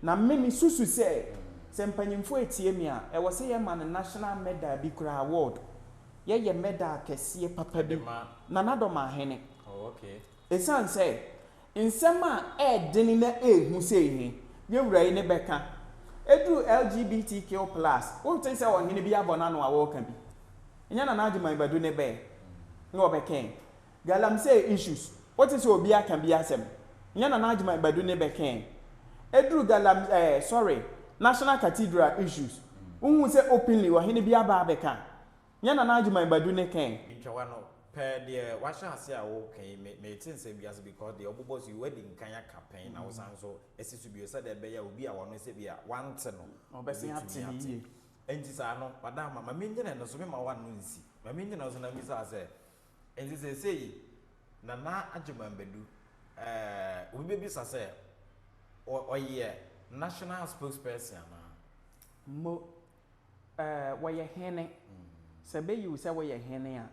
Na me me susu sɛ sɛ mpanyinfoɔ retie me a, ɛwɔ sɛ yɛ ma no national medal bi koraa award. Yɛ yɛ medal kɛseɛ papa bi Nana Domaahene. Ɛsiane sɛ nsɛm a ɛɛdene na ɛɛhu sei he, yɛ wura yi ne bɛka. Ɛduru LGBTQ plus, wonte sɛ ɔhene bi abɔ n'ano a ɔɔka bi. Nyɛ Nana Agyemang Badu ne bɛɛ na ɔbɛkɛɛ. Galamsey issues wote sɛ obi aka bi asɛm nyɛ nana agyeman badu ne bɛkɛɛ ɛduru galam ɛɛ sorry national cathedral issues wohu sɛ openly ɔhene bi aba abɛka nyɛ nana agyeman badu ne kɛɛ. Ntwawa no, pɛ deɛ wahyɛ aseɛ a woka yi me mete nsɛm bi ase because deɛ wobobɔ so yi woadi nkan aka pɛn na wosan nso asi so bio sɛdeɛ ɛbɛyɛ a obi a ɔno sɛ bi a wante no Ɔbɛsen ate obɛtumi no ate. yie. Enti saa no, madam ma mennyina ɛno so, memma woanno nsi. Ma mennyina ɛno so na mmisaa sɛ, Enti seesei Nana Agyeman Badu, eh, obi bɛbisa sɛ, ɔ, ɔyɛ National Spokesperson anaa? Mo, eh, wɔyɛ Hene. Sɛ bɛyi wo sɛ woyɛ Hene a,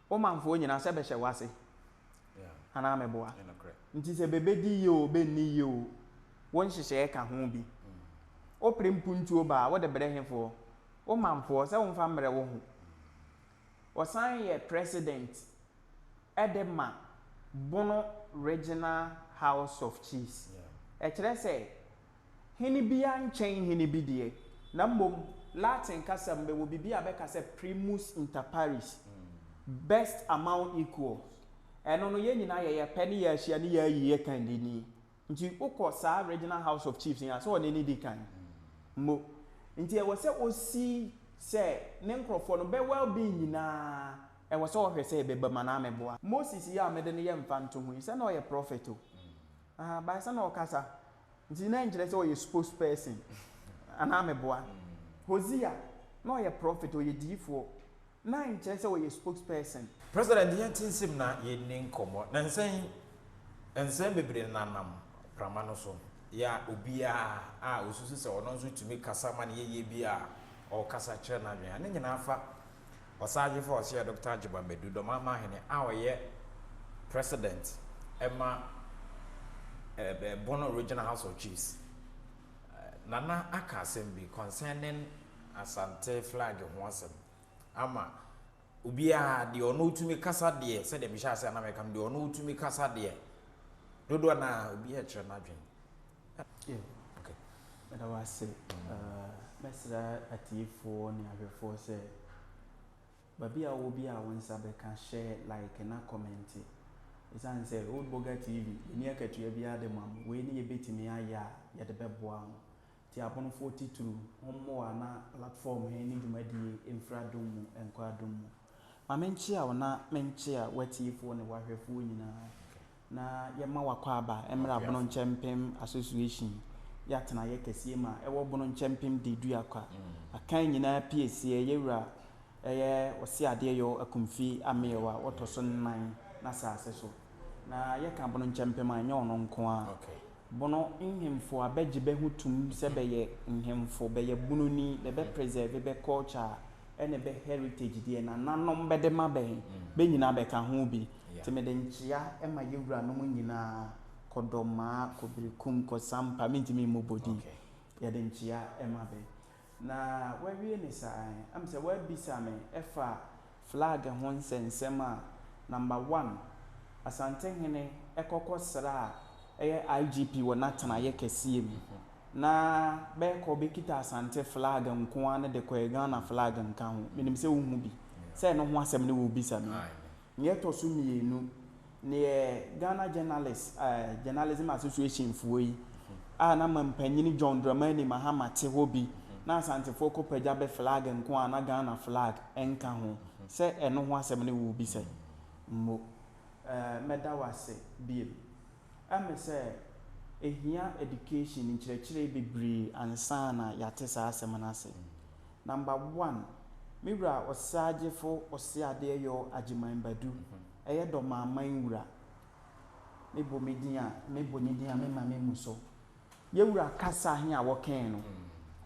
wo manfoɔ nyinaa sɛ bɛhyɛ w'ase anaa meboa? Nti sɛ bɛbɛdi yie o, bɛnni yie o, wo nhyehyɛeɛ ka ho bi. Wopere mpuntuo ba a, wode brɛ hefoɔ? Wo manfoɔ, sɛ womfa mmrɛ wo ho. Ɔsan yɛ president de ma Bono Regional House of Chiefs. Ɛkyerɛ sɛ hene biara nkyɛn hene bi deɛ, na mmom Latin kasa mu bɛwɔ biribi a bɛka sɛ primus inter pares, best among equals. Ɛno no, yɛn nyinaa yɛyɛ pɛ ne yɛahyia ne yɛayi yɛn kannini Nti wokɔ saa Regional House of Chiefs yi a, sɛ ɔno ani di kan mmo. Nti ɛwɔ sɛ ɔsi sɛ ne nkorɔfoɔ no, bɛ well being nyina ara, ɛwɔ sɛ ɔhwɛ sɛ ɛbɛba mu anaa mɛboa. Moses yi a mede no yɛ mfantoho yi, sɛ na ɔyɛ prophet o, ahaa, but sɛ na ɔkasa, nti na ɛnkyerɛ sɛ ɔyɛ spokesperson anaa mɛboa. Hosea, na ɔyɛ prophet, ɔyɛ diyifoɔ. na nkyerɛ sɛ ɔyɛ spokesperson. President yɛn te nsam na yɛnni nkɔmmɔ. Nansa yi, nsɛm bebree nenanam prama no so ya obiara a ɔsusu sɛ ɔno nso tumi kasa ma no yɛ yie bi a ɔkasa kyerɛ n'adwene a ne nyinaa fa Ɔsahwefo a ɔsɛeɛ Dɔkta Agyeman Madu, Dɔmamma Hene a ɔyɛ President ma Bono Regional House of Chiefs. Nana aka asɛm bi concerning Asante flag ho asɛm ama obiara, deɛ ɔno ɔtumi kasa deɛ, sɛdeɛ mehyɛ ase a na meka no, deɛ ɔno ɔtumi kasa deɛ, dodoɔ no ara obiara rekyerɛ n'adwene. Yeah. Okay. Meda wo ase. Mɛsrɛ atiefoɔ ne ahwɛfoɔ sɛ, baabi a wowɔ biara a wo nsa bɛka, hyɛ like na kɔmɛnte. Ɛsiane sɛ Old Boga TV, yɛnni akatua biara de ma mo. Wei ne yɛbɛtumi ayɛ a yɛde bɛboa mo. Tiaponfoɔ titru hom mboa na platform he ne dwumadie mfiri adom mu nkɔ adom mu. Ma menkyea wo na menkyea w'atiefoɔ ne w'ahwɛfoɔ nyinaa na yɛma w'akwaaba mmra Bono Nkyɛmpem Association yɛ atenaeɛ kɛseɛ mu a ɛwɔ Bono Nkyɛmpem Deduakwa akan nyinaa pieseɛ yɛwura ɛyɛ Ɔseadeɛyɔ Akumfi Ameɛw a ɔtɔ so nnan n'asaase so na yɛka Bono Nkyɛmpem a ɛnyɛ ɔno nko ara Bono nhemfo a bɛgye bɛ ho tum sɛ bɛyɛ nhemfo, bɛyɛ bononi, bɛ bɛ presɛve bɛ culture ɛne bɛ heritage deɛ nananom bɛde ma bɛ bɛ nyinaa bɛ ka ho bi. Nti mede nkyea ma yɛ wuranom nyinaa, Kɔdɔmaa, Kɔbirikum, Kɔsampa, mentumi mmobɔ din, yɛde nkyea ma bɛ. Na wawie ne saa ɛ? Am sɛ w'abisa me ɛfa flag ho nsɛnsɛm a, number one, Asantehene ɛkɔ kɔ sra a ɛyɛ IGP wɔ n'atenaeɛ kɛseɛ mu, na bɛɛkɔ bɛkita Asante flag nkoaa no de kɔɛ Ghana flag nka ho, menim sɛ wohu bi, sɛ ɛno ho asɛm ne worebisa me yi, Nea ɛtɔ so mmienu, neɛ Ghana Journalists Journalism Association foɔ yi a na mampanin John Dramani Mahama te hɔ bi na Asantefoɔ kɔ pagya bɛ flag nko a na Ghana flag nka ho sɛ ɛno ho asɛm ne wo rebisa yi. Mmo. Mɛda wo ase bio. Ɛmɛ sɛ ɛhia education, nkyerɛkyerɛ bebree ansa na yɛate saa asɛm no ase. Number one, me wura Ɔseagyefo Oseadeɛyɔɔ Agyeman Badu, ɛyɛ Dɔmaaman wura, me bɔ me din a, me bɔ ne din a memma me mmu so. Yɛ wura kasa he a wɔkɛɛe no,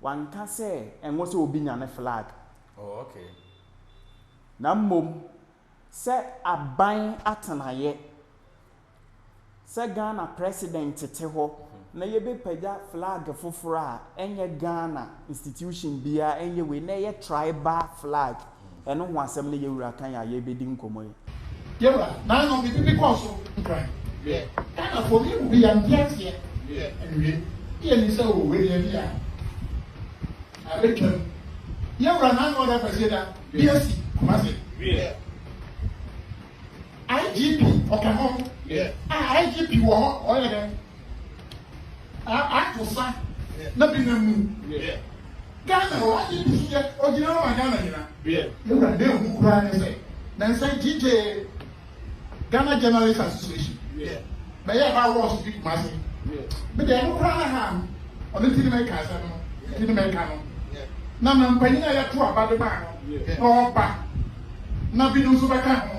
wanka sɛ ɛnwo sɛ obi nya ne flag. Oh, okay. Na mmom sɛ aban atenaeɛ, sɛ Ghana President tete hɔ na yɛbɛpagya flag foforɔ a, ɛnyɛ Ghana institution biara, ɛnyɛ wei, na ɛyɛ tribal flag. Ɛno ho asɛm ne Yawura kan a yɛrebɛdi nkɔmmɔ yi. Yawura, naano me pipi kɔɔ so nkran. Wiɛ, Ghanafoɔ me mu bi yɛnte aseɛ. Wiɛ, ɛnwie, yɛnim sɛ o wei deɛ ɛnte a. Abɛtwam. Yɛn wura Nana Addo Kwasiada, BSC, Kumasi. IGP ɔka ho. Ah, IGP wɔ hɔ, ɔyɛ dɛn? Ah, ato sa na bi nam mu. Ghana wɔ IGP so yɛ, ɔgyina hɔ ma Ghana nyina. Yɛn wura, na ɛhu koraa ne sɛ, nansa gyigye. Ghana Journalists Association yeah. bɛyɛ ha wɔ ɔso fi Kumasi yeah. me deɛ ɛno koraa na ha no ɔno ti ne mɛka asɛm no ti ne mɛka no na ma mpanyin a yɛto aba de maa no na ɔba na binom nso bɛka ho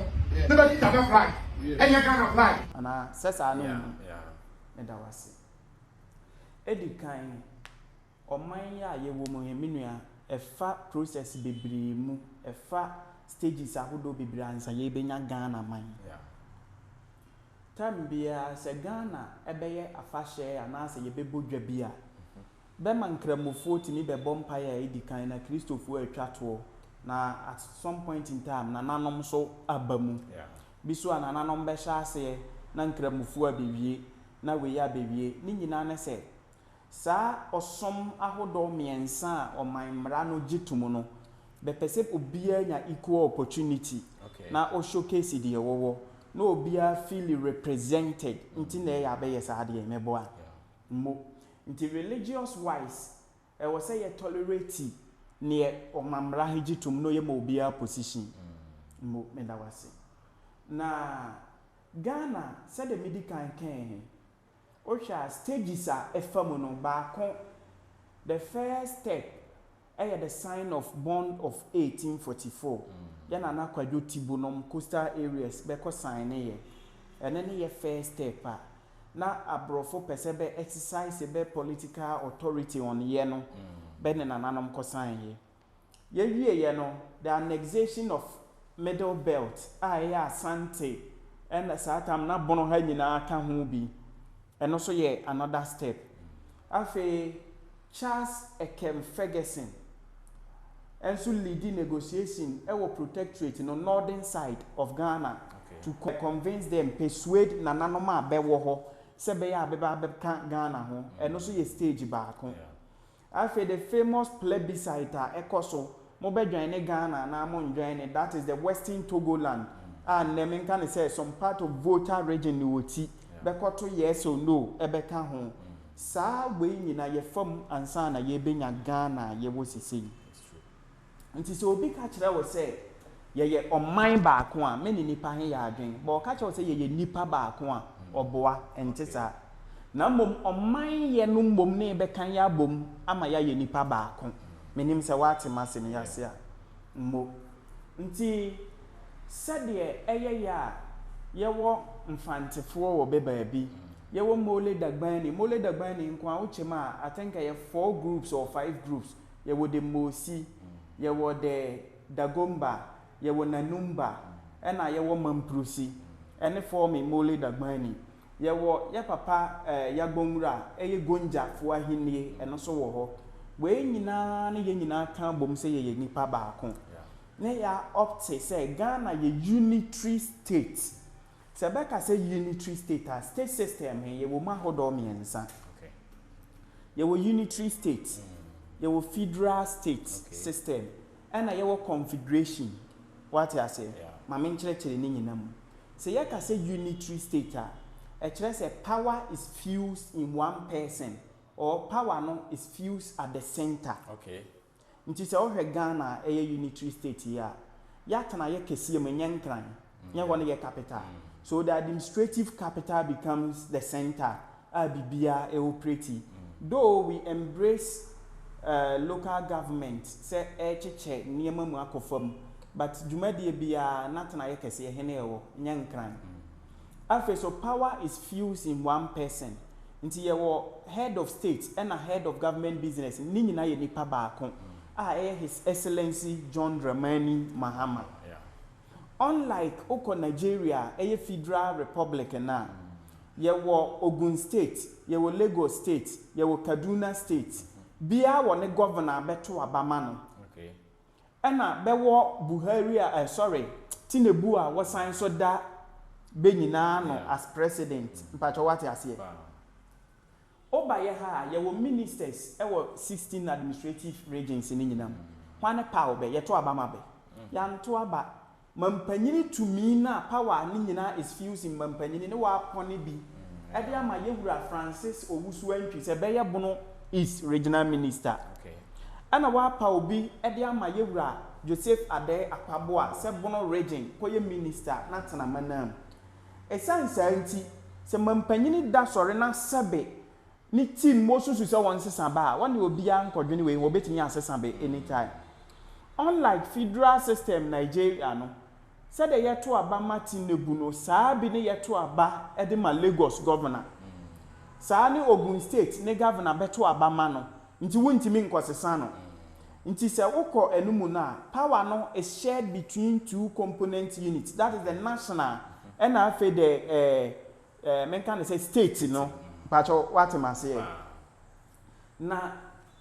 na bɛkita bɛ flag ɛnyɛ Ghana flag. anaa sɛ saa no mu meda wase ɛdi kan Ɔman yi a yɛwɔ mu yi me nua ɛfa process bebree mu, ɛfa stages ahodoɔ bebree ansa yɛbɛnya Ghana man. Term biara sɛ Ghana bɛyɛ afahyɛ anaa sɛ yɛbɛbɔ dwa bi a, bɛma Nkramofoɔ tumi bɛbɔ mpaeɛ a ɛdi kan na Kristofoɔ atwa toɔ na at some point in time Nananom nso aba mu. Bi so a Nananom bɛhyɛ aseɛ na Nkramofoɔ abɛwie na wei abɛwie. Ne nyinaa ne sɛ Saa ɔsom ahodoɔ mmiɛnsa a ɔman mmara no gye to mu no, bɛpɛ sɛ obiara nya equal opportunity na o showcase deɛ ɔwɔ na obiara feel represented nti na ɛyɛ a bɛyɛ saa adeɛ yi, mɛboa mo. Nti religious wise ɛwɔ sɛ yɛ tolerate neɛ ɔman mmara he gye to mu na ɔyɛ ma obiara position mo. Meda wo ase. Na Ghana sɛdeɛ medi kan kae he, Wohwɛ a stages a ɛfa mu no, baako, the first step yɛ the sign of bond of 1844, yɛ Nana Kwadwo Tibu nom coastal areas bɛkɔ signe yɛ, ɛno ne yɛ first step a na aborɔfo pɛ sɛ bɛ exercise bɛ political authority on yɛ no, bɛ ne Nananom kɔ signe yɛ. Yɛwieeɛ no, the annexation of Middle Belt a ɛyɛ Asante ɛna saa tam na Bono ha nyinaa ka ho bi, ɛno nso yɛ another step. Afei Charles Ekem Ferguson nso leadi negotiation wɔ protectorate no northern side of Ghana to convince them, persuade nananom a bɛwɔ hɔ sɛ bɛyɛ a bɛba abɛka Ghana ho, ɛno nso yɛ stage baako. Afei the famous plebiscite a ɛkɔ so, mo bɛ join ne Ghana anaa mo njoin ne, that is the western Togoland a nnɛ me nka no sɛ some part of Volta region ne wɔ ti, bɛ kɔ to yes or no ɛbɛ ka ho. Saa wei nyina yɛ fa mu ansa na yɛ bɛ nya Ghana a yɛ wɔ sesei. Enti sɛ obi ka kyerɛ wo sɛ, Yɛyɛ ɔman baako a, me ne nnipa he yɛ adwene. Bɔ ɔka kyerɛ wo sɛ, Yɛyɛ nnipa baako a, ɔboa. Ɛnte saa. Na mmom ɔmanyɛ no mmom ne yɛbɛka yɛ abom ama yɛayɛ nnipa baako. Mennim sɛ woate m'asɛm yi ase a. Mmo. Nti sɛdeɛ ɛyɛ yɛ a yɛwɔ Mfantefoɔ wɔ bɛ baabi, yɛwɔ Mole Dagbani, Mole Dagbani nko a, wokyɛm a, I think ɛyɛ four groups or five groups, yɛwɔ de Mosi, yɛwɔ de Dagomba, yɛwɔ Nanumba, ɛna yɛwɔ Mamprusi ɛne Forme Mole Dagbani. Yɛwɔ yɛ papa eh, Yagbonwura ɛyɛ Gonja foɔ ahennie ɛno nso wɔ hɔ. Wei nyinaa ne yɛn nyinaa ka bom sɛ yɛyɛ nipa baako. Ne yɛ opte sɛ Ghana yɛ unitary state. Sɛ bɛka sɛ unitary state a, state system he yɛwɔ mu ahodoɔ mmiɛnsa. Yɛwɔ unitary state, yɛwɔ federal state system, ɛna yɛwɔ confederation. Woate aseɛ? Ma me nkyerɛkyerɛ ne nyina mu. Sɛ yɛka sɛ unitary state a, ɛkyerɛ sɛ power is fused in one person or power no is fused at the centre. Nti sɛ wohwɛ Ghana a ɛyɛ unitary state yi a, yɛatena yɛ kɛseɛ mu, ɛnyɛ nkran, nyɛ hɔ ne yɛ capital. So the administrative capital becomes the centre a biribiara ɛoperate. Though we embrace eh local government sɛ ɛrekyekyɛ nneɛma mu akɔ fam, but dwumadie biara n'atenayɛ kɛseɛ, hene ɛwɔ, nyɛ nkran. Afei so power is fused in one person nti yɛwɔ head of state ɛna head of government business ne nyinaa yɛ nipa baako a ɛyɛ his excellency John Dramani Mahama. Unlike wokɔ Nigeria a ɛyɛ federal republic no a yɛwɔ Ogun state, yɛwɔ Lagos state, yɛwɔ Kaduna state biara wɔ ne governor a bɛto aba ma no. Ɛna bɛwɔ Buhari a eh sorry Tinebu a wɔsan so da bɛ nyinaa ano as president mpakyɛw wate aseɛ? Woba yɛ ha a yɛwɔ ministers wɔ sixteen administrative regions no nyinaa mu hwane paw bɛ yɛto aba ma bɛ? Yɛanto aba. Mampanyini tumi no a power a ne nyinaa is fusing mu mampanyini ne wɔapɔne bi de ama yɛ wura Francis Owusu Antwi sɛ bɛyɛ Bono East Regional Minister. Ɛna wɔapa obi de ama yɛ wura Joseph Adei Akpaboa sɛ Bono Region kɔyɛ Minister na tena m'anam. Ɛsiane saa nti, sɛ mampanyini da sɔre na sɛbe Ne team mo susu sɛ wɔn sesa ba a wɔn deɛ obiara nkɔdwene wei ho wɔbɛtumi asesa bɛ any time unlike federal system Nigeria no sɛdeɛ yɛto aba ma Tinebu no saa bi ne yɛto aba de ma Lagos governor saa ne Ogun state ne governor bɛto aba ma no nti wontumi nkɔsesa no nti sɛ wokɔ ɛno mu no a power no is shared between two component units that is the national ɛna afei the eh, Eh, menka no sɛ state no? Mpakyɛw, woate m'aseɛ? Na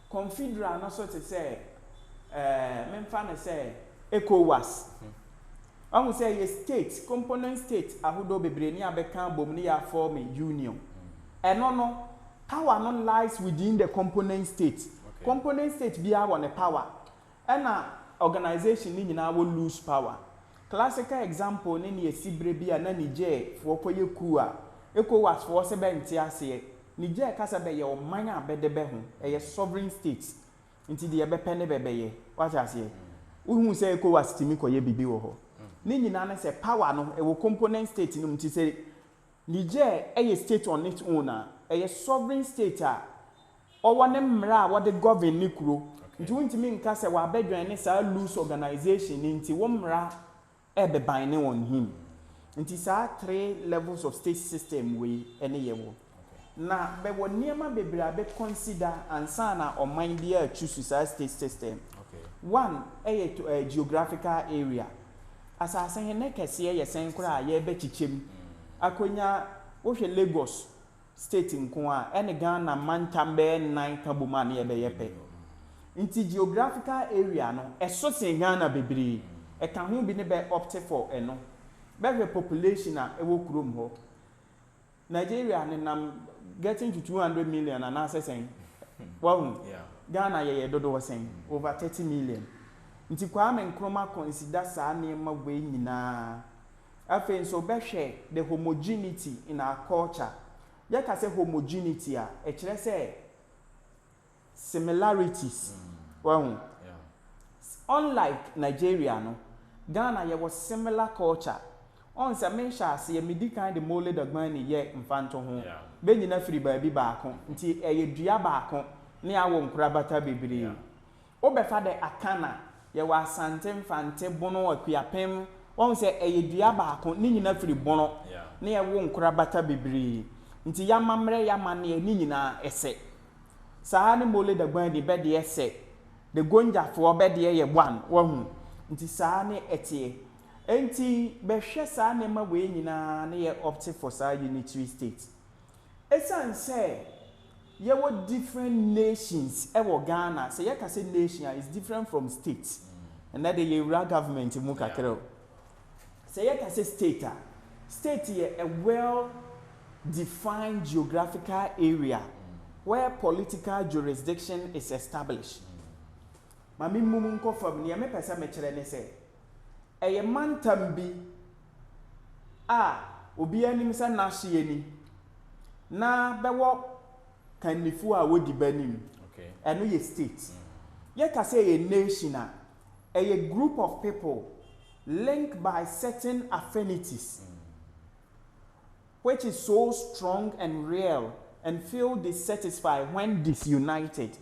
confederal no so te sɛ eh, memfa no sɛ Ecowas. Wahu sɛ ɛyɛ state, component state ahodoɔ bebree ne abɛka abom ne yɛafɔɔme union. Ɛno no, power no lies within the component state. Component state biara wɔ ne power. Ɛna organisation no nyinaa wɔ loose power. Classical example ne nea ɛsi berɛ bi a na Niger foɔ kɔyɛ coup a Ecowas foɔ se bɛnte aseɛ. Niger ka sɛ bɛyɛ ɔman a bɛde bɛ ho, ɛyɛ sovereign state nti deɛ bɛpɛ ne bɛbɛyɛ. Wate aseɛ? Wohuu sɛ Ecowas tumi kɔyɛ biribi wɔ hɔ. Ne nyinaa ne sɛ power no ɛwɔ component state no mu nti sɛ Niger yɛ state on its own a, ɛyɛ sovereign state a ɔwɔ ne mmara a wɔde govern ne kuro. Nti wontumi nka sɛ w'abɛdwɛn ne saa loose organization no nti wo mmara ɛbebine on him. Nti saa three levels of state system wei ɛne yɛwɔ. Na bɛwɔ nneɛma bebree a bɛ consider ansa na ɔman biara a choose saa state system. One ɛyɛ to ɛɛ geographical area. Asase he ne kɛseɛ yɛ sɛn koraa a yɛɛbɛkyekyɛ mu akonya, wohwɛ Lagos state nko a, ɛne Ghana mantam bɛyɛ nnan ka bom a ne yɛbɛyɛ pɛ. Nti geographical area no, ɛso sen Ghana bebree. Ɛka ho bi ne bɛ opt for ɛno. Bɛhwɛ population a ɛwɔ kurom hɔ. Nigeria nenam getting to two hundred million anaasɛ sɛn? Wahu? Ghana yɛyɛ dodoɔ sɛn? Over thirty million. Nti Kwame Nkrumah consider saa nneɛma wei nyinaa. Afei nso bɛhwɛ the homogeneity in our culture. Yɛka sɛ homogeneity a, ɛkyerɛ sɛ. Similarities, wahu. Unlike Nigeria no, Ghana yɛwɔ similar culture. Ɔn sɛ me hyɛ aseɛ me di kan de Mole Dagbani yɛ mfantoho. Bɛ nyina firi baabi baako nti ɛyɛ dua baako ne awo nkorabata bebree. Wo bɛ fa dɛ Akan a, yɛwɔ Asante, Mfante, Bono, Akuapem, wahu sɛ ɛyɛ dua baako ne nyina firi Bono ne ɛwo nkorabata bebree nti y'amammerɛ y'amanneɛ ne nyinaa ɛsɛ. Saa ne Mole Dagbani de bɛdeɛ sɛ the Gonja foɔ bɛdeɛ yɛ one wahu nti saa ne ɛteɛ ɛnti bɛhwɛ saa nneɛma wei nyinaa ne yɛ opt for saa unitary state ɛsiane sɛ yɛwɔ different nations wɔ Ghana sɛ yɛka sɛ nation a is different from state ɛnɛ de yɛwura government mu kakra o Sɛ yɛka sɛ state a, state yɛ a well defined geographical area where political jurisdiction is established. Ma me mmu mu nkɔ fam, nea mepɛ sɛ mekyerɛ ne sɛ, ɛyɛ mantam bi a obiara nim sɛ n'ahyeɛ ni, na bɛwɔ kannifoɔ a wɔdi bɛ anim, ɛno yɛ state. Yɛka sɛ ɛyɛ nation a, ɛyɛ group of people linked by certain affinities which is so strong and real and feel dissatisfied when disunited.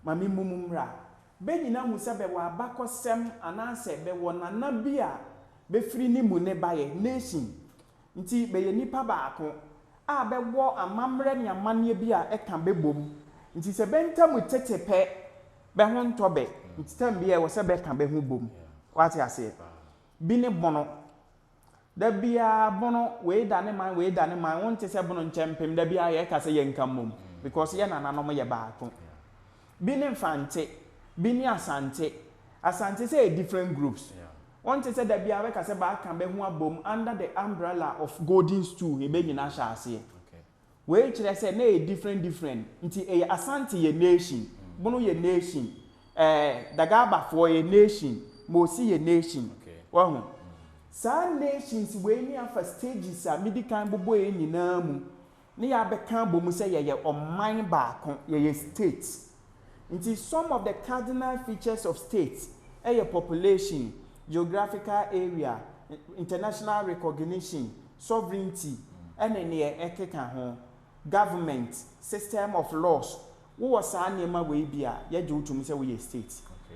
Ma memmu mu mmra. Bɛ nyina hu sɛ bɛwɔ abakɔsɛm anaasɛ bɛwɔ nana bi a bɛfiri ne mu ne baeɛ, nation, Nti bɛyɛ nnipa baako a bɛwɔ amammerɛ ne amanneɛ bi a ɛka bɛ bom. Nti sɛ bɛ ntam tete pɛ, bɛ ho ntɔ bɛ. Nti tam biara ɛwɔ sɛ bɛka bɛ ho bom. Woate aseɛ? Bi ne Bono. Da biara Bono, wei da ne man, wei da ne man. Wonte sɛ Bono nkyɛmpem da biara yɛka sɛ yɛnka mmom because yɛ nananom yɛ baako. Bi ne Mfante. Bi ne Asante. Asante sɛ yɛ different groups. Wonte sɛ da biara bɛka sɛ bɛaka bɛ ho abom under the umbrella of Golden Stool he bɛ nyinaa hyɛ aseɛ. Wei kyerɛ sɛ na ɛyɛ different different nti ɛyɛ Asante yɛ nation, Bono yɛ nation, eh, Dagabafoɔ yɛ nation, Mosi yɛ nation. Wahu? Saa nations wei ne afa stages a medi kan bobɔeɛ nyinaa mu. ne yɛ abɛka abɔ mu sɛ yɛyɛ ɔman baako, yɛyɛ state. Nti some of the cardinal features of state yɛ population, geographical area, international recognition, sovereignty ne neɛ ɛkeka ho, government, system of laws, Wowɔ saa nneɛma wei bi a, yɛgye wo tom sɛ woyɛ state.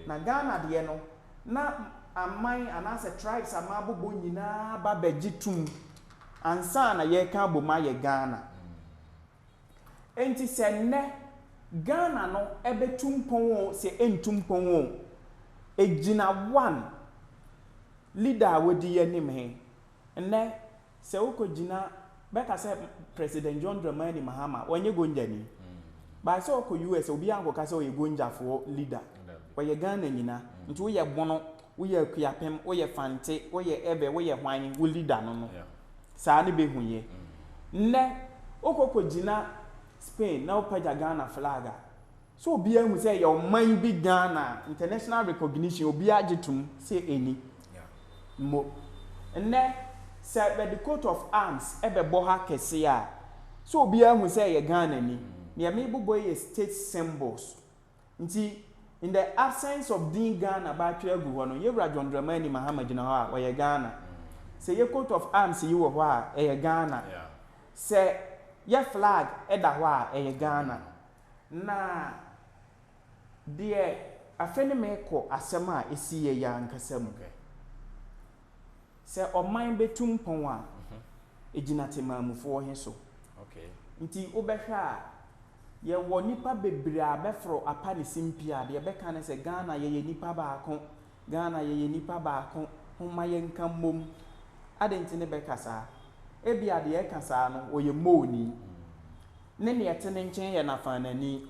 Na Ghana deɛ no, na aman anaasɛ tribes a mabobɔ nyinaa ba bɛgye tom ansa na yɛka abom ayɛ Ghana. Enti sɛ nnɛ Ghana no bɛtu mpɔn o, sɛ ɛntu mpɔn o, ɛgyina one leader a wadi yɛn anim he. Nnɛ sɛ wokɔ gyina bɛka sɛ president John Dramani Mahama wɔnyɛ gonjani by sɛ ɔkɔ US a obiara nkɔka sɛ ɔyɛ gonjafoɔ leader ɔyɛ Ghana nyina nti woyɛ bono woyɛ akuapem woyɛ fante woyɛ ɛbɛ woyɛ hwan wo leader no no saa ne bɛhu yɛ nnɛ wokɔ kɔ gyina Spain na wopagya Ghana flag a. So obiara hu sɛ yɛwɔ man bi Ghana a international recognition obiara gye tom sɛ ɛnni? Mmo. Nnɛ sɛ bɛde coat of arms bɛbɔ ha kɛse a, so obiara hu sɛ ɛyɛ Ghanani? Neɛ mebobɔ yi yɛ state symbols. Nti in the absence of din Ghana bɛatwerɛ agu hɔ no, Yɛwura John Dramani Mahama gyina hɔ a, ɔyɛ Ghana. Sɛ yɛ coat of arms yi wɔ hɔ a, ɛyɛ Ghana. Sɛ yɛ flag da hɔ a, ɛyɛ Ghana. Na deɛ afei ne merekɔ asɛm a ɛsiiɛ yi ankasa mu hwɛ. Sɛ ɔman bɛtu mpɔn a, ɛgyina temanmufoɔ he so. Nti wobɛhwɛ a, yɛwɔ nnipa bebree a bɛforo apa ne simpie a, deɛ bɛka ne sɛ, Ghana yɛyɛ nnipa baako, Ghana yɛyɛ nnipa baako, homma yɛnka mmom. Adɛn nti ne bɛka saa? Ebia deɛ ɛka saa no, ɔyɛ mmooni. ne nea ɛte ne nkyen yɛ nafaanani,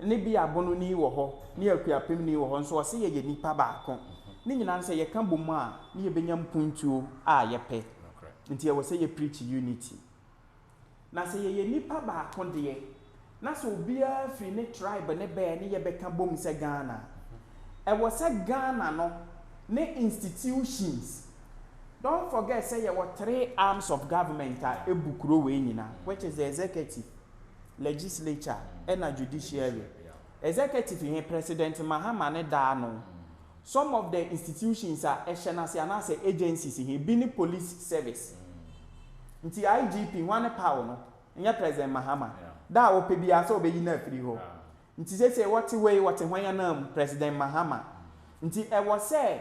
ne bi abononi wɔ hɔ, ne akuapemni wɔ hɔ, nso ɔse yɛyɛ nnipa baako. Ne nyinaa no sɛ yɛka bom a ne yɛbɛnya mpuntuo a yɛpɛ. Nti ɛwɔ sɛ yɛ preach unity. Na sɛ yɛyɛ nnipa baako deɛ, na sɛ obiara firi ne tribe ne bɛɛ ne yɛbɛka bom sɛ Ghana a, ɛwɔ sɛ Ghana no ne institutions Don't forget sɛ yɛwɔ three arms of government a ɛbu kuro wei nyinaa which is the executive, legislature ɛna judiciary. Executive he President Mahama ne da ano. Some of the institutions a ɛhyɛ n'ase anaasɛ agencies he bi ne police service. Nti IGP hwan ne paw no? Nyɛ President Mahama. Da a ɔpɛ biara sɛ ɔbɛyi no afiri hɔ. Nti seesei wɔte hɔ yi wɔte hwan ananmu? President Mahama. Nti ɛwɔ sɛ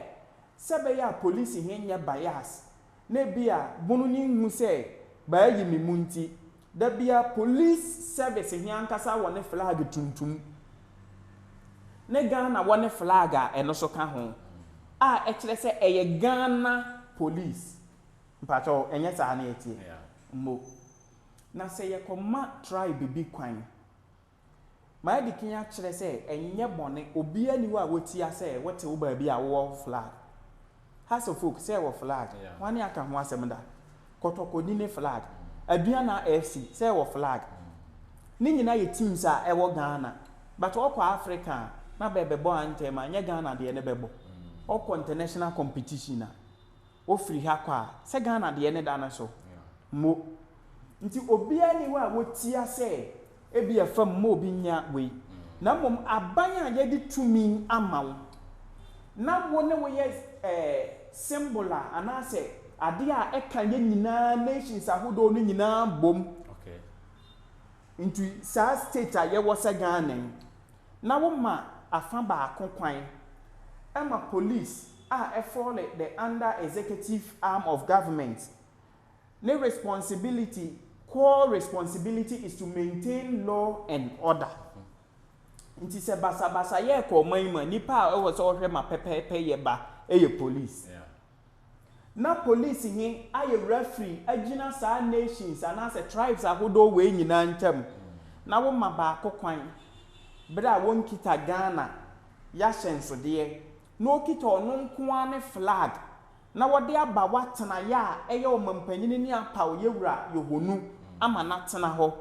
sɛ ɛbɛyɛ a policehe nyɛ bias na ebia bunu ne nhu sɛ bɛayi me mu nti, da biara police service he ankasa wɔ ne flag tuntum ne Ghana wɔ ne flag a ɛno so ka ho a ɛkyerɛ sɛ ɛyɛ Ghana police. Mpakyɛw, ɛnyɛ saa na yɛteɛ? Mmo. Na sɛ yɛkɔma tribe bi kwan. Madi kan akyerɛ sɛ ɛnyɛ bɔne, obiara nni hɔ a wotia sɛ wote wo baabi a wowɔ flag. Hassle folk sɛ wɔ flag, hwane aka ho asɛm da? Kɔtɔkɔni ne flag, Aduana FC sɛ wɔ flag, ne nyinaa yɛ teams a ɛwɔ Ghana, but ɔkɔ Africa a na bɛbɛbɔ anthem a ɛnyɛ Ghana deɛ ne bɛbɔ, ɔkɔ international competition a. wofiri ha kɔ a, sɛ Ghana deɛ ne da no so mo. Nti obiara nni hɔ a wotia sɛ ebia fa mu ma obi nya wei. Na mmom aban a yɛde tumi ama wo na wo ne wo yɛ eh, symbol a anaasɛ adeɛ a ɛka yɛn nyinaa nations ahodoɔ no nyinaa bom. Nti saa state a yɛwɔ sɛ Ghana yi, na woma afa baako kwan ma police a ɛfɔle the under executive arm of government ne responsibility core responsibility is to maintain law and order nti sɛ basabasa yɛ kɔ ɔman yi mu a nipa a ɛwɔ sɛ ɔhwɛ ma pɛpɛɛpɛ yɛ ba yɛ police na police he ayɛ referee agyina saa nations anaasɛ tribes ahodoɔ wei nyinaa ntam na woma baako kwan berɛ a wɔnkita Ghana yɛahyɛnsodeɛ na ɔkita ɔno nko ara ne flag na wɔde aba w'atenaeɛ a ɛyɛ ɔmampanin ne apaoyɛ wura yɛhɔnu ama no atena hɔ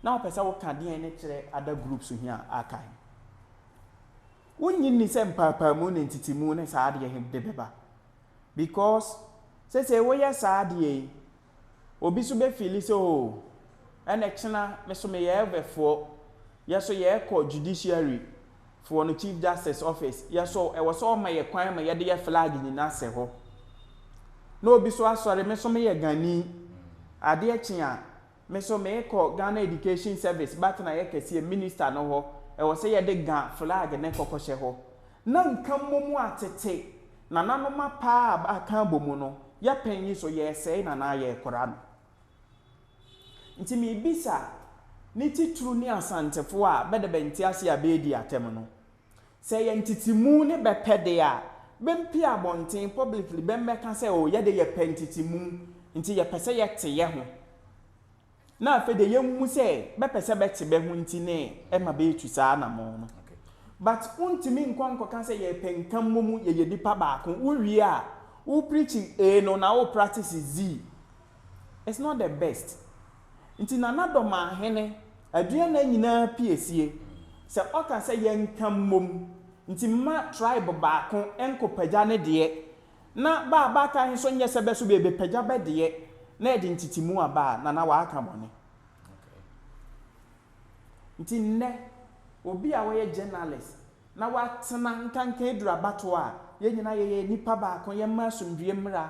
na wopɛ sɛ woka deɛn ne kyerɛ other groups he a aka he? Wonnye nni sɛ mpaapaamu ne ntetemu ne saa adeɛ he de bɛba? Because seesei woyɛ saa adeɛ yi Obi so bɛ fiili sɛ oo ɛnɛ kyena me so meyɛ ɛvɛ foɔ yɛ so yɛ kɔ judiciary foɔ no chief justice office yɛ so ɛwɔ sɛ ɔma yɛ kwan ma yɛ de yɛ flag nyina sɛ hɔ na obi so asɔre me so me yɛ gani adeɛ kye a me so me kɔ Ghana education service bɛatena yɛ kɛseɛ minister no hɔ ɛwɔ sɛ yɛ de ga flag ne kɔ kɔ hyɛ hɔ Na nka mmom a tete nananom apaa a aka abɔ mu no, yɛpɛn yi so yɛresɛe no anaa yɛrekora no. Nti mebisa ne titiriw ne Asantefo a bɛde bɛ ntease a bɛredi atɛm no, sɛ ɛyɛ ntetemu ne bɛpɛ de a, bɛmpue abɔnten publicly bɛmmɛka sɛ oh yɛde yɛpɛ ntetemu nti yɛpɛ sɛ yɛte yɛho. na afei deɛ yɛmmu sɛ bɛpɛ sɛ bɛte bɛ ho nti ne ɛma bɛretu saa anamɔn no. But wontumi nkɔ nkɔka sɛ yɛpɛ nka mmom yɛyɛ nnipa baako. Wowie a, wo preach A no na wo practice Z. It's not the best. Nti Nana Dɔmahene, Aduana nyinaa piesie. Sɛ ɔka sɛ yɛnka mmom nti mma tribe baako nkɔpagya ne deɛ Na bɛ a bɛaka he nso nyɛ sɛ bɛ so beebepagya bɛ deɛ na ɛde ntetemu aba a, na na wɔaka bɔne. Nti nnɛ, obi a ɔyɛ journalist na watena nkanka aduru abatoɔ a, yɛ nyinaa yɛyɛ nnipa baako, yɛmma asomdwie mmra,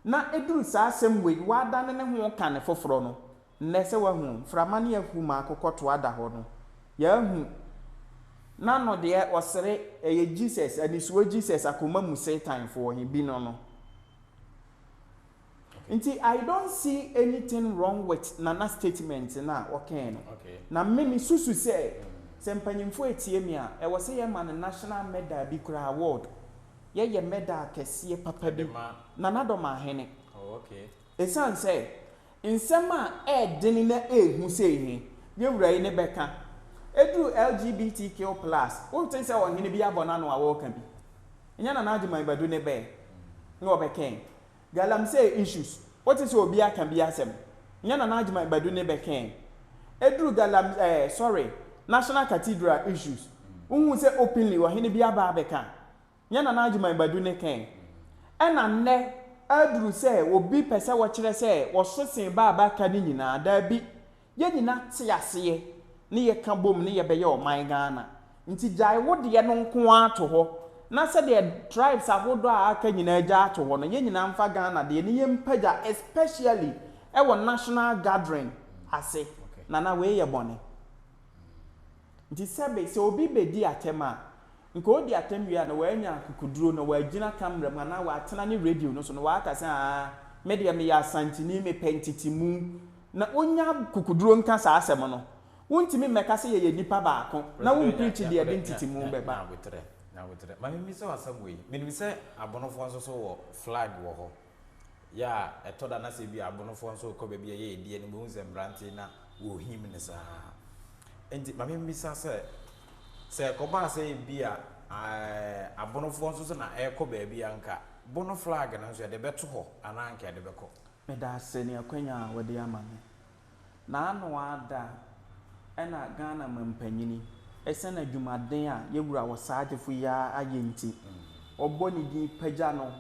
na ɛduru saa asɛm wei, wadane ne ho reka ne foforɔ no, Nnɛ, sɛ woahu mframa ne ahum a akokɔtoa da hɔ no, yɛahu n'ano deɛ ɔsere, ɛyɛ Jesus, anisoɔ Jesus, akoma mu Satanfoɔ he bi no no. Nti I don't see anything wrong with Nana statement no a ɔkɛɛ no. Na me me susu sɛ, sɛ mpanyimfoɔ ɛtie me a, ɛwɔ sɛ yɛma no national medal bi koraa, award. Yɛyɛ medal kɛseɛ papa bi, Nana Domaahene. Esiane sɛ nsɛm a ɛyɛ den na ɛyɛ hu sei he yɛ wura yi ne bɛka, eduru LGBTQ plus, wonte sɛ ɔhene bi abɔ n'ano a ɔɔka bi. Nyɛ Nana Agyemang Badu ne bɛɛ na ɔbɛkɛɛ galamsey issues. Wote sɛ obi aka bi asɛm? Nyɛ Nana Agyemang Badu ne bɛkɛɛ eduru galam eh, sorry, National Cathedral issues. Wohu sɛ openly ɔhene bi aba abɛka? Nyɛ Nana Agyemang Badu ne kɛn. Ɛna nnɛ aduru sɛ obi pɛ sɛ ɔkyerɛ sɛ ɔso sen ba a bɛaka no nyinaa. Daabi. Yɛn nyina te aseɛ ne yɛka bom ne yɛbɛyɛ ɔman Ghana. Nti gyae wo deɛ no nko ara to hɔ na sɛdeɛ tribes ahodoɔ a aka nyinaa gyaa to hɔ no, yɛn nyinaa mfa Ghana deɛ ne yɛmpagya especially wɔ national gathering ase. Nana wei yɛ bɔne. Nti sɛbe sɛ obi bɛdi atɛm a, Nka odi atɛm wie a na w'anya akokoduro na w'agyina camera mu anaa w'atena ne radio no so na w'aka sɛ aa me deɛ meyɛ asanteni me pɛ ntetemu na onya akokoduro nka saa asɛm no wontumi mmɛka sɛ yɛyɛ nipa baako na wo mpreachi deɛ ɛde ntetemu bɛba. Nyaboterɛ, Nyaboterɛ, ma me mmisa wo asɛm wei, menim sɛ abonofoɔ nso so wɔ flag wɔ hɔ. yɛ a ɛtɔ da na sɛ ebi a abonofoɔ nso rekɔ baabi a ɛyɛ ɛdeɛ no wobɛhu sɛ mmeranteɛ na wɔhim no saa nti ma membisa sɛ sɛ ɛkɔbaa sɛ ebi a abonofoɔ nso so na ɛrekɔ baabi a nka bono flag no nso yɛde bɛto hɔ anaa nka yɛde bɛkɔ Meda ase ne akwanya a wɔde ama me. Na ano ara da a na Ghana mampanyini, ɛsiane adwumaden a yɛn wura Osagyefo yi ara ayɛ nti, wɔbɔ ne din pagya no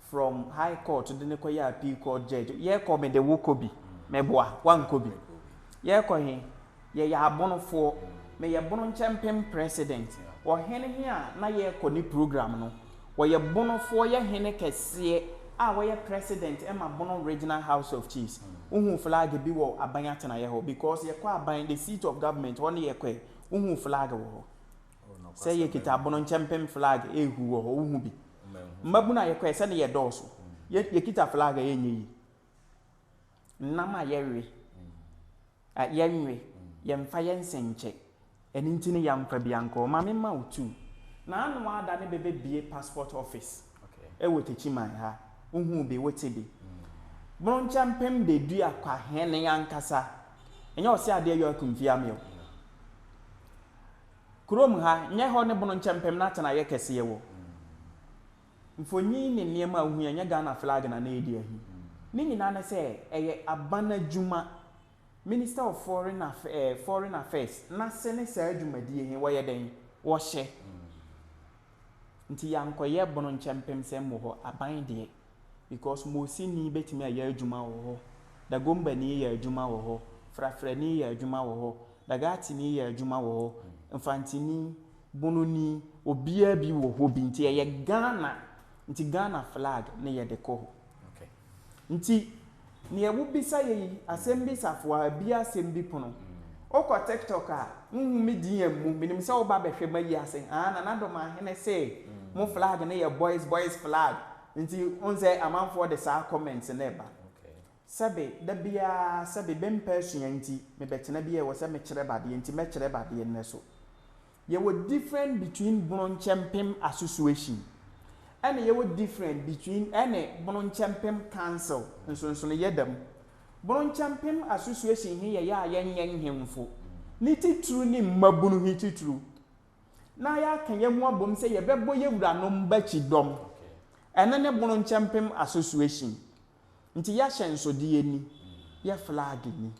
from High Court de no kɔyɛɛ Appeal Court Judge. Yɛrekɔ mede wo kɔ bi, meboa, woankɔ bi. Yɛrekɔ he, yɛyɛ abonofoɔ, meyɛ bono nkyɛmpem President. Ɔhene he a na yɛrekɔ ne program no, Wɔyɛ Bono foɔ yɛ hene kɛseɛ a wɔyɛ president ma Bono Regional House of Chiefs. Wohuu flag bi wɔ aban atenaeɛ hɔ because yɛkɔ aban, the seat of government, hɔ ne yɛkɔɛ. Wohuu flag wɔ hɔ sɛ yɛkita Bono nkyɛmpem flag rehu wɔ hɔ. Wohu bi? Mmabunu a yɛkɔɛ sɛdeɛ yɛdɔɔso. Yɛkita flag a ɛnyɛ yie. nam a yɛwe, a yɛnwe, yɛmfa yɛn nsa nkyɛ. Ɛno nti no yɛamfa bi ankɔ. Ma memma wo two. Na ano ara da no bɛbɛbue passport office wɔ Techiman ha. Wohuu bi, wote bi. Bronchampem Dedua Kwahene ankasa, ɛnyɛ Ɔseadeɛ York Mfiame o. Kurom ha, nyɛ hɔ ne Bronchampem no atenaeɛ kɛseɛ wɔ. Mfonyin ne nneɛma a wohia nyɛ Ghana flag na na yɛde ahi. Ne nyinaa ne sɛ ɛyɛ aban adwuma. Minister of Foreign Aff eh, Foreign Affairs no ase ne saa dwumadie he, wɔyɛ dɛn? Wɔhyɛ. Nti yɛankɔyɛ bono nkyɛ mpem sɛ mmɔ hɔ aban deɛ because Mosini bɛtumi ayɛ adwuma wɔ hɔ, Dagombani yɛ adwuma wɔ hɔ, Frafrani yɛ adwuma wɔ hɔ, Dagatini yɛ adwuma wɔ hɔ, Mfantini, Bono ni obiaa bi wɔ hɔ bi nti ɛyɛ Ghana nti Ghana flag ne yɛde kɔ hɔ nti neɛ wo bisa yɛ yi asɛm bi safoa abia asɛm bi pono wo kɔ tiktok a wo hu me din ammu menim sɛ wo ba bɛhwɛ mayi ase haa Nana Domaahene se mo flag ne yɛ boys boys flag nti wohu sɛ amanfoɔ de saa comments no ɛba Sɛbe, da biaa, sɛbe, me mpɛ asua nti, me bɛtena bi a ɛwɔ sɛ me kyerɛ ba adeɛ nti, mɛ kyerɛ ba adeɛ nnɛ so. Yɛwɔ different between Bononkyɛmpem Association ɛne yɛwɔ different between ɛne Bononkyɛmpem Council, nsonsonoyɛ da mu. Bononkyɛmpem Association he yɛyɛ a yɛnyɛ nhemfo ne titiriw ne mmabunu he titiriw, na yɛaka yɛ ho abom sɛ yɛbɛbɔ yɛ wuranom ba kyidɔm. Ɛno ne Bononkyɛmpem Association. Nti y'ahyɛnsodeɛ ni, yɛ flag ni.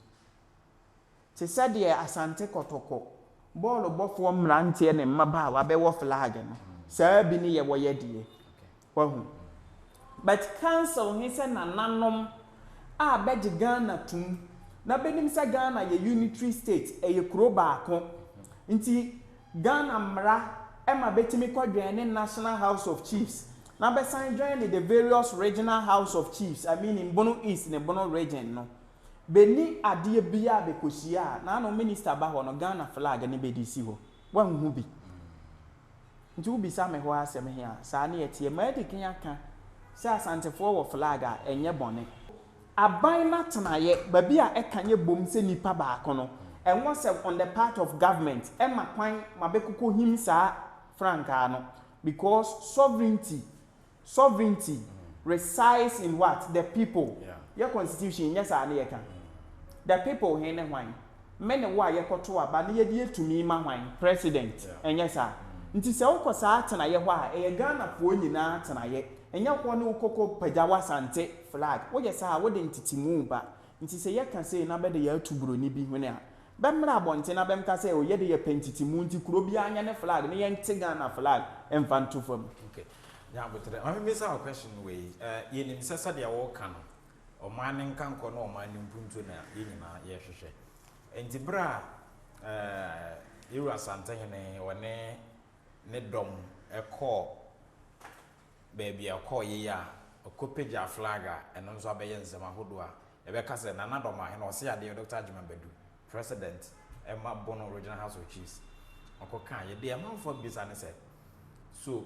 Te sɛdeɛ Asante Kɔtɔkɔ bɔɔlo bɔfoɔ mmeranteɛ ne mmabaawa bɛwɔ flag no, saa bi ne yɛwɔ yɛ deɛ. Wahu? But council he sɛ nananom a bɛgye Ghana tom na bɛnim sɛ Ghana yɛ unitary state, ɛyɛ kuro baako. Nti Ghana mmara ma bɛtumi kɔdwɛne National House of Chiefs na bɛsan dwɛne the various Regional House of Chiefs, I meaning Bono East ne Bono Region no. Bɛnni adeɛ biara a bɛkɔhyia a n'ano Minister ba hɔ no, Ghana flag ne bɛde si hɔ. Woanhu bi? Nti wobisa me hɔ asɛm he a, saa ne ɛteɛ. Maadi kan aka sɛ Asantefoɔ wɔ flag a, ɛnyɛ bɔne. Aban n'atenaeɛ, baabi a ɛka yɛ bom sɛ nipa baako no, ɛnwɔ sɛ on the part of government ɛma kwan ma bɛkokɔ him saa frankaa no because sovereignty sovereignty resides in what? The people. Yɛ constitution nyɛ saa ne yɛka? The people he ne hwan? Me ne wo a yɛkɔto aba ne yɛde yɛ tumi ma hwan? President. Ɛnyɛ saa? Nti sɛ wokɔ saa atenaeɛ hɔ a, ɛyɛ Ghanafoɔ nyinaa atenaeɛ, ɛnyɛ hɔ ne wokɔkɔ pagya w'asante Flag, woyɛ saa a, wode ntetemu ba. Nti sɛ yɛka sei na bɛde yɛn ato buroni bi hwene a, bɛmmra abɔnten na bɛmka sɛ, oh, yɛde yɛpɛ ntetemu nti kuro biara nyɛ ne flag ne yɛnte Ghana flag mfa nto fam. Ok, Nyaboterɛ, ma memmisa wo question wei. Yɛnim sɛ sɛdeɛ woka no, ɔman no nkankɔ ne ɔman no mpuntuo na yɛn nyinaa yɛhwehwɛ. Nti berɛ a Yɛwura Asantehene ɔne ne dɔm kɔɔ. baabi a ɛkɔɔ yiye a, ɔkɔpagyaa flag a ɛno nso abɛyɛ nsɛm ahodoɔ a yɛbɛka sɛ Nana Addo Amoah hene Ɔseadeɛ Doctor Agyemang Badu, President, ɛma Bono Regional House of Chiefs ɔkɔkaeɛ. Deɛ amanfoɔ rebisa ne sɛ, So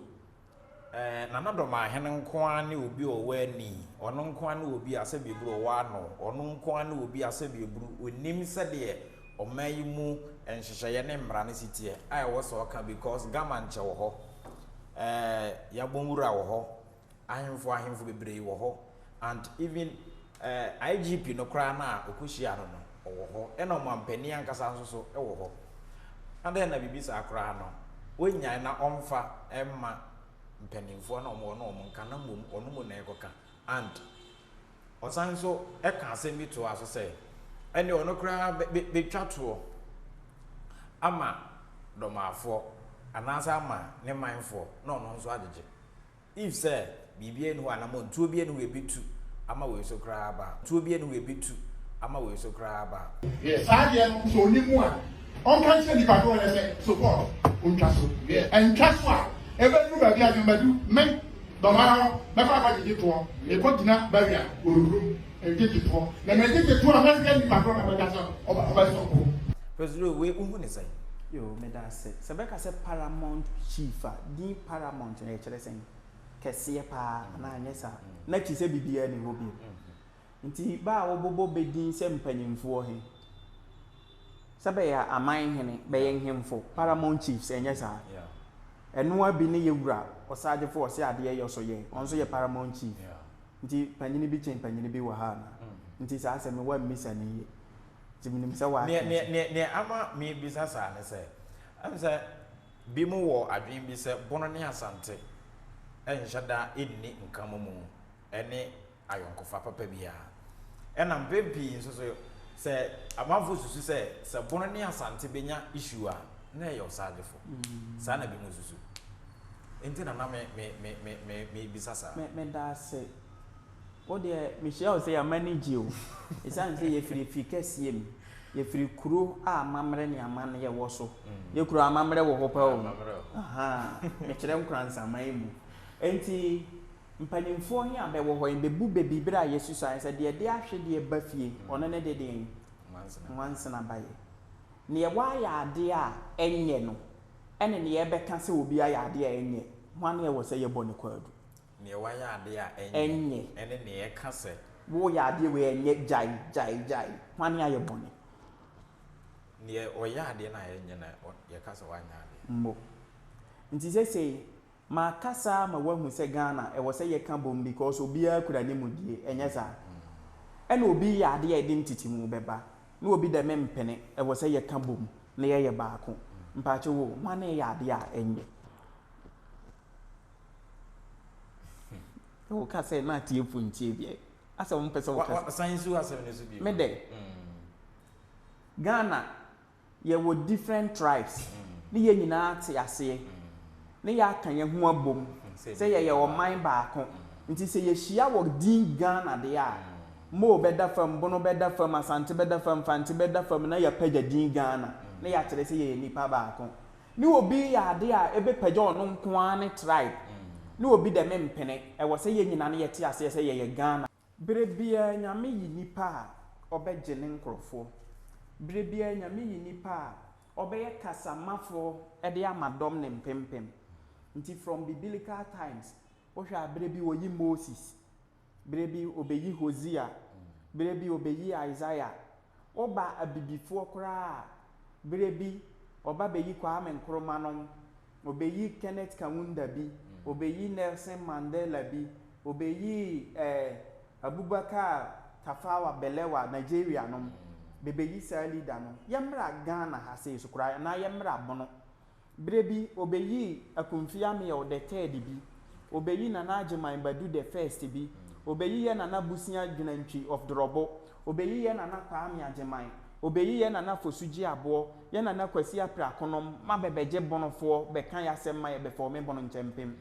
eh, Nana Addo Amoah hene nko ara ne obi a ɔwɔ ani? Ɔno nko ara ne obi a sɛdeɛ ɛburu ɔwɔ ano? Ɔno nko ara ne obi a sɛdeɛ ɛburu ɔnim sɛdeɛ Ɔman yi mu nhyehyɛeɛ ne mmara ne siteɛ a ɛwɔ sɛ ɔka because Gama nkyɛ wɔ hɔ, eh, Yabon Wura wɔ hɔ, ahemfo ahemfo bebree wɔ hɔ and even eh, IGP no koraa no a ɔkɔhyia no no ɔwɔ hɔ ɛna ɔmampanin ankasa nso so wɔ hɔ. Adɛn na biribi saa koraa no wɔnnyae na ɔmfa mma mpanimfoɔ na ɔmo wɔ no ɔmo nka na mmom ɔno mu na ɛkɔka and Ɔsan nso ka asɛm bi toa so sɛ, Ɛnde ɔno koraa betwa toɔ ama Dormafoɔ, anaasɛ ama ne manfoɔ, na ɔno nso agyegye. If sɛ biribiara nni hɔ a, anammɔn tuo biara nni hɔ a ebetu ama wei so koraa aba a, tuo biara nni hɔ a ebetu ama wei so koraa aba a. Wiɛ, saa adeɛ no, sɛ ɔnim mu a, ɔnka nkyerɛ nnipa dodoɔ no sɛ, So Paul, wontwa so? Wiɛ, ɛntwa so a, ebeduru baabi a, gyama du, me, Dɔmmaa no bɛkɔ akɔgye gye toɔ, mekɔ gyina barrier wɔ nkurom ɛgye gye toɔ, na mɛgye gye toɔ a mɛhwɛ nipa korɔ na bɛka sɛ ɔbɛ ɔbɛ sɔ po. President wei wo hu ne sɛn? Yoo meda ase. Sɛ bɛka sɛ paramount chief a, din paramount no ɛkyerɛ sɛn? Kɛseɛ paa anaa anyɛ saa? Na akyi sɛ biribiara nni hɔ bio? Nti bɛ a wɔbobɔ bɛ din sɛ mpanyimfoɔ he, sɛ bɛyɛ aman hene, bɛyɛ nhemfo, paramount chiefs, ɛnyɛ saa? Ɛno ara bi ne yɛ Wura Ɔsaagyefo ɔse adeɛ yɔ so yɛ, ɔno nso yɛ paramount chief. Nti panyini bi kyen panyini bi wɔ ha anaa? Nti saa asɛm yi woammisa no yie. Nti menim sɛ woate ase. Neɛ ama mebisa saa ne sɛ, ɛm sɛ binom wɔ adwene bi sɛ Bono ne Asante nhyɛ da nni nka momu ne ayɔnkofa papa biara. Ɛna mpɛn pii nso so sɛ amanfo susu sɛ sɛ Bono ne Asante benya issue a, na ɛyɛ ɔsaagyefo. Saa na binom susu. Enti na na mebisa saa. Meda ase. Wo deɛ, mehyia wo sɛ yɛn ani gye o. Esiane sɛ yɛfiri afie kɛseɛ mu, yɛfiri kuro a amammerɛ ne amanneɛ wɔ so. Yɛn kuro amammerɛ wɔ hɔ paa o. Mekyerɛ Nkoranzaman mu. Enti Mpanyimfoɔ he a bɛwɔ hɔ he bebu bɛ bi berɛ a yɛasusuaeɛ sɛ, Deɛ de ahwedeɛ ba fie he, ɔno ne de deɛn? Nwansena ba yɛ. Neɛ waayɛ adeɛ a ɛnyɛ no ne neɛ yɛbɛka sɛ obi ayɛ adeɛ a ɛnyɛ, hwan ne ɛwɔ sɛ yɛbɔ ne kwaadu? Neɛ waayɛ adeɛ a ɛnyɛ ne neɛ yɛka sɛ. Wooyɛ adeɛ wei a ɛnyɛ, gyae, gyae, gyae, hwan ne ayɛ bɔne? Neɛ ɔyɛ adeɛ no a ɛnyɛ na yɛka sɛ wanyɛ adeɛ. Mmɔ. Nti seesei, Makasa ama woahu sɛ Ghana ɛwɔ sɛ yɛka bom because obiara kura ne mudie, ɛnyɛ saa? Ɛna obi yɛ adeɛ a ɛde ntetemu bɛba na obi dɛ mempene, ɛwɔ sɛ yɛka bom na yɛyɛ baako. Mpaakyɛ wo, hwan na ɛyɛ adeɛ a ɛnyɛ? Wo ka sɛ na atiefo ntie deɛ asɛ wo mpɛ sɛ wo kasa. Wa san nsi wo asɛm no so bio. Me dɛ? Ghana yɛwɔ different tribes ne yɛn nyinaa ate aseɛ ne yɛaka yɛn ho abom sɛ yɛyɛ ɔman baako nti sɛ yɛhyia wɔ din Ghana deɛ a Moo bɛda fam, Bono bɛda fam, Asante bɛda fam, Mfantse bɛda fam na yɛapagya din Ghana na yɛakyerɛ sɛ yɛyɛ nnipa baako. Ne obi reyɛ adeɛ a ɛbɛpagya ɔno nko ara ne tribe ne obi dɛ mempene, ɛwɔ sɛ yɛn nyinaa no yɛte aseɛ sɛ yɛyɛ Ghana. Berɛ biara Nyame yi nipa a ɔbɛgye ne nkorɔfoɔ. Berɛ biara Nyame yi nipa a ɔbɛyɛ kasamafoɔ de ama dɔm no mpempem. Nti from bibilical times, wohwɛ a berɛ bi ɔyi Moses, berɛ bi ɔbɛyi Hosea, berɛ bi ɔbɛyi Isaiah, Woba Abibifoɔ koraa a, berɛ bi ɔba bɛyi Kwame Nkrumah nom, ɔbɛyi Kenneth Kaunda bi, ɔbɛyi Nelson Mandela bi, ɔbɛyi eh, Abubakar Tafawa Balewa, Nigeria nom, bɛbɛyi saa leader no. Yɛmmra Ghana ha sei so koraa, anaa yɛmmra Bono, Berɛ bi, wɔbɛyii Akumfi Amiel the third bi, wɔbɛyi Nana Agyeman Badu the first bi, wɔbɛyi yɛ Nana Busia Dwenantwi of Dorɔbo, wɔbɛyi yɛ Nana Kwame Agyeman, wɔbɛyi yɛ Nana Fosu Gyeaboɔ, yɛ Nana Kwasi Aprakonom ma bɛbɛgye Bonofoɔ bɛka yɛ asɛm ma yɛbɛfɔɔme Bono Nkyɛmpem.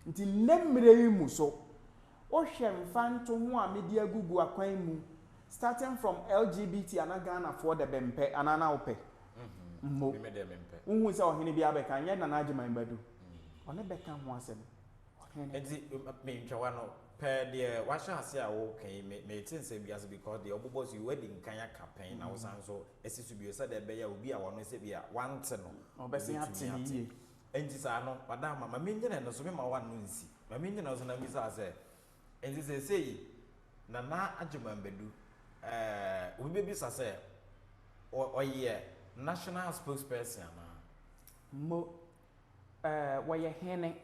Nti nnɛ mmerɛ yi mu so, Wohwɛ mfantoho a mede agugu akwan mu starting from LGBT a na Ghanafoɔ dɛ bɛmpɛ anaa na wopɛ mmo. Wohu sɛ ɔhene biara bɛka, nyɛ Nana Agyeman Badu, ɔne bɛka ho asɛm. Ɔhene. Nti me ntwawa no, pɛ deɛ wahyɛ aseɛ a woka yi, me mete nsɛm bi ase because deɛ wobobɔ so yi woadi nkan aka pɛn na wosan nso asi so bio sɛdeɛ ɛbɛyɛ a obi a ɔno sɛbi a wante no, ɔbɛtumi ate. Enti sɛ ano, madamma, ma minnyina ɛno so, memma w'ano nnsi, ma minnyina ɛno so na mibisaa sɛ, Enti seesei Nana Agyeman bedu? Ɛɛ, obi bebisa sɛ, Ɔ, ɔyɛ National Spokesperson anaa? Mo, ɛɛ, wɔyɛ Hene.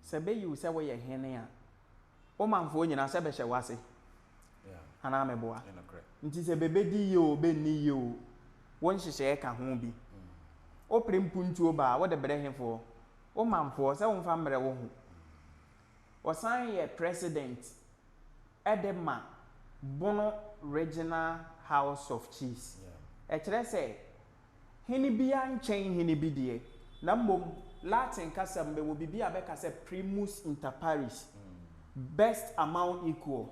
Sɛ beyi wo sɛ woyɛ Hene a, wo manfoɔ nyinaa sɛ bɛhyɛ wo ase anaa meboa? Nti sɛ bɛbɛdi yie oo, bɛnni yie oo, wo nhyehyɛeɛ ka ho bi. Wopere mpuntuo ba a, wode brɛ hefoɔ? Wo manfoɔ sɛ womfa mmrɛ wo ho. Ɔsan yɛ president de ma Bono Regional House of Chiefs. Ɛkyerɛ sɛ hene biara nkyɛn hene bi deɛ, na mmom Latin kasa mu no yɛwɔ biribi a bɛka sɛ primus inter pares, best among equals.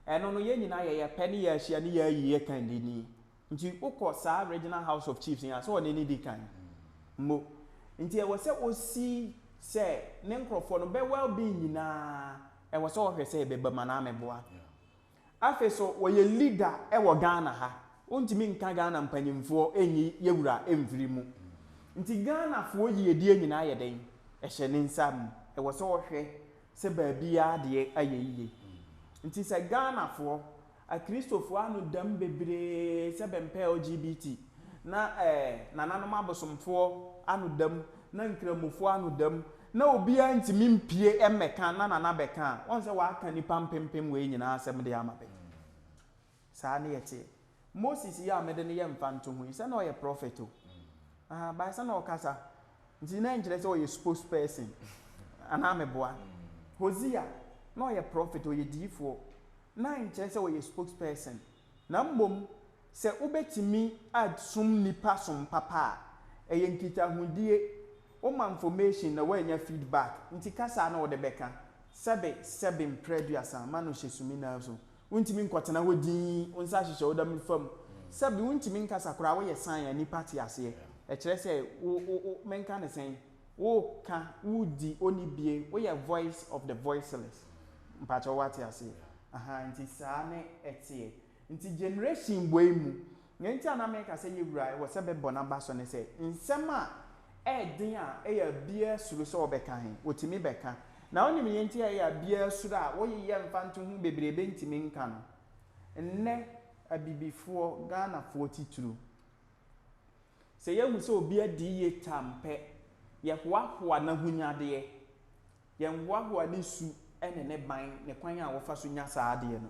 Ɛno no yɛn nyinaa yɛyɛ pɛ ne yɛahyia ne yɛayi yɛn kannini. Nti wokɔ saa Regional House of Chiefs yi a, sɛ ɔne no di kan mpo. Nti ɛwɔ sɛ ɔsi sɛ ne nkurɔfoɔ no, bɛ well being nyinaa ɛwɔ sɛ ɔhwɛ sɛ ɛbɛba mu anaa meboa. Afei so wɔyɛ leader wɔ Ghana ha. Wontumi nka Ghana mpanyimfoɔ nyi yɛ wura mfiri mu. Nti Ghanafoɔ yiedie nyinaa yɛ dɛn? Ɛhyɛ ne nsa mu. Ɛwɔ sɛ ɔhwɛ sɛ baabiara adeɛ ayɛ yie. Nti sɛ Ghanafoɔ, Akristofoɔ ano da mu bebree sɛ bɛmpɛ LGBT na ɛɛ nananom abosomfoɔ ano da mu Na Nkramofoɔ ano da mu, na obiara ntumi mpue mmɛka na Nana bɛka a, woahu sɛ waka nnipa mpempem wei nyinaa asɛm de ama bɛ. Saa ne yɛteɛ. Moses yi a mede ne yɛ mfantoho yi, sɛ na ɔyɛ prophet o, ahaa, but sɛ na ɔkasa, nti na ɛnkyerɛ sɛ ɔyɛ spokesperson, anaa meboa? Hosea, na ɔyɛ prophet, ɔyɛ diyifoɔ, na ɛnkyerɛ sɛ ɔyɛ spokesperson. Na mmom, sɛ wobɛtumi asom nnipa som papa a, ɛyɛ nkitahodie, woma information na woanya feedback, nti ka saa na wode bɛka, sɛbe sɛbe mprɛ aduasa, ma no hyɛ sumina so, wontumi nkɔtena hɔ dinn, wo nsa hyehyɛ wo dam fam, sɛbe wontumi nkasa koraa, woyɛ sign a nnipa te aseɛ, ɛkyerɛ sɛ wo, wo, wo, menka no sɛn? woka, wodi, onibie, woyɛ voice of the voiceless. Mpakyɛw wate aseɛ? Ahaa, nti saa ne ɛteɛ. Nti generation wei mu, nea nti a na meka sɛ yɛn wura ɛwɔ sɛ bɛbɔ n'abaso ne sɛ, nsɛm a ɛyɛ den a ɛyɛ a biara suro sɛ ɔbɛka he, otumi bɛka. Na wonim nea nti a ɛyɛ a biara suro a woyeyɛ mfa nto ho bebrebe ntumi nka no? Nnɛ, Abibifoɔ, Ghanafoɔ titiriw, Sɛ yɛhu sɛ obi adi yitam pɛ, yɛhoahoa n'ahonyadeɛ. Yɛnhoahoa ne su ne ne ban, ne kwan a wɔfa so nya saa adeɛ no.